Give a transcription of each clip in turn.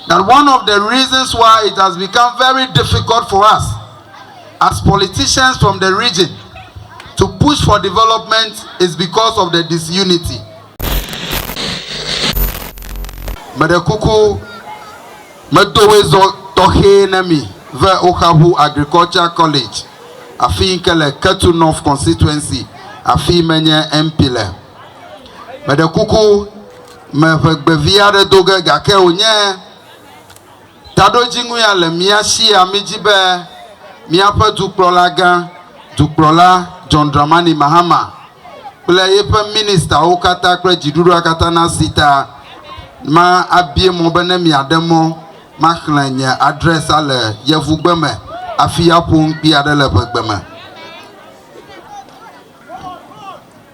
that one of the reasons why it has become very difficult for us as politicians from the region to push for development is because of the disunity. Meɖe kuku medo wezɔ tɔxɛ na mi ve Oxahu Agriculture College afi yi ke le Ketu North constituency afi menye MP le. Meɖe kuku me ʋegbe vi aɖe do ge, gake wònye taɖodzinu ya le mía sia. Mídi be míaƒe Dukplɔlagã, Dukplɔla John Dramani Mahama kple yeƒe ministawo katã kple dziɖuɖua katã nasi ta. Ma abie mɔ be ne miaɖe mɔ maxlẽ nye adrɛsa le Yevugbe me hafi aƒo nu kpi aɖe le ʋegbe me.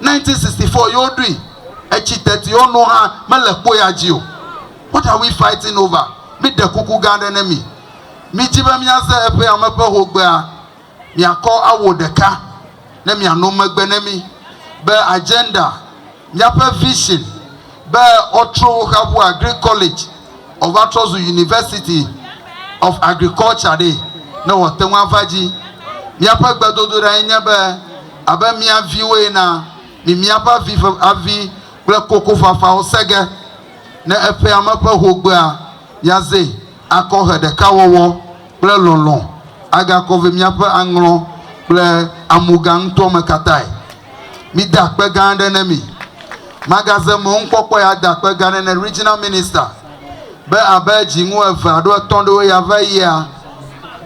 1964 ye woɖoe. Etsi teti wo nu hã mele kpo ya dzi o. What are we fighting over? Míɖe kuku gã aɖe ne mi. Mídi be míaze eƒe ame ƒe hogbea. Miakɔ awo ɖeka ne miano megbe ne mí be agenda, míaƒe vision, be wotrɔ wo xa ƒu agric college wòva trɔ zu university of agriculture ɖee ne wòate ŋu ava dzi. Míaƒe gbedodoɖae nye be abe mía viwo ena, mi míaƒe avi ƒe avi kple kokofafawo se ge ne eƒea me ƒe hogbea míaze akɔ he ɖekawɔwɔ kple lɔlɔ̃ agakɔ ve míaƒe aŋlɔ kple amuga ŋutɔ me katãe. Mide akpe gã aɖe ne mi. Magaze mɔnukpɔkpɔe ade akpe gã aɖe ne Regional Minister be abe dziŋu eve alo etɔ̃ aɖewo ya va yia,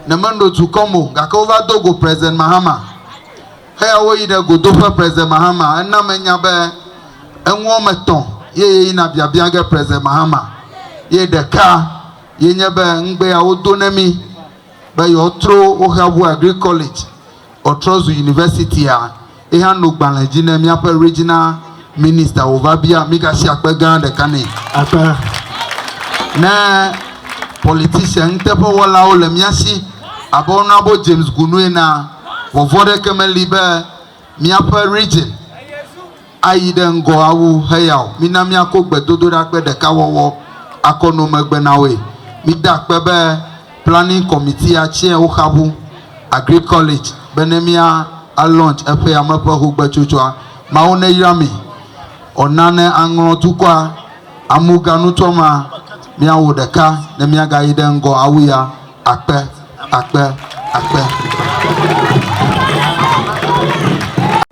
ne menɔ dukɔ me o, gake wova do go President Mahama. Eya woyi ɖe godoƒe President Mahama. Ena menya be eŋu wɔme etɔ̃ ye yeyina biabia ge President Mahama. Ye ɖeka ye nye be ŋugbe ya wodo ne mi be yewoatro Woxeabu Agric College. Ɔtrɔ zu Universitya ye hã no gbalẽ dzi ne míaƒe Regional Minister wòva bia mígasi akpe gã ɖeka nɛ. Akpe. Ne politician nuteƒewɔlawo le mía si abe Honourable James Gunu enea, vɔvɔ̃ aɖeke meli be míaƒe Region. Ayi ɖe ŋgɔ awu heya o. Mina míako gbedodoɖagbe ɖeka wɔwɔ akɔ no megbe na woe. Mide akpe be Planning Committee ya tsɛa woxabu Agric College be ne mía a launch eƒe yame ƒe xogbetsotsoa. Mawu neyra mi ɔ na ne aŋlɔ dukɔa amu ga nutɔ ma míawo ɖeka ne míagayi ɖe ŋgɔ awu ya akpe akpe akpe.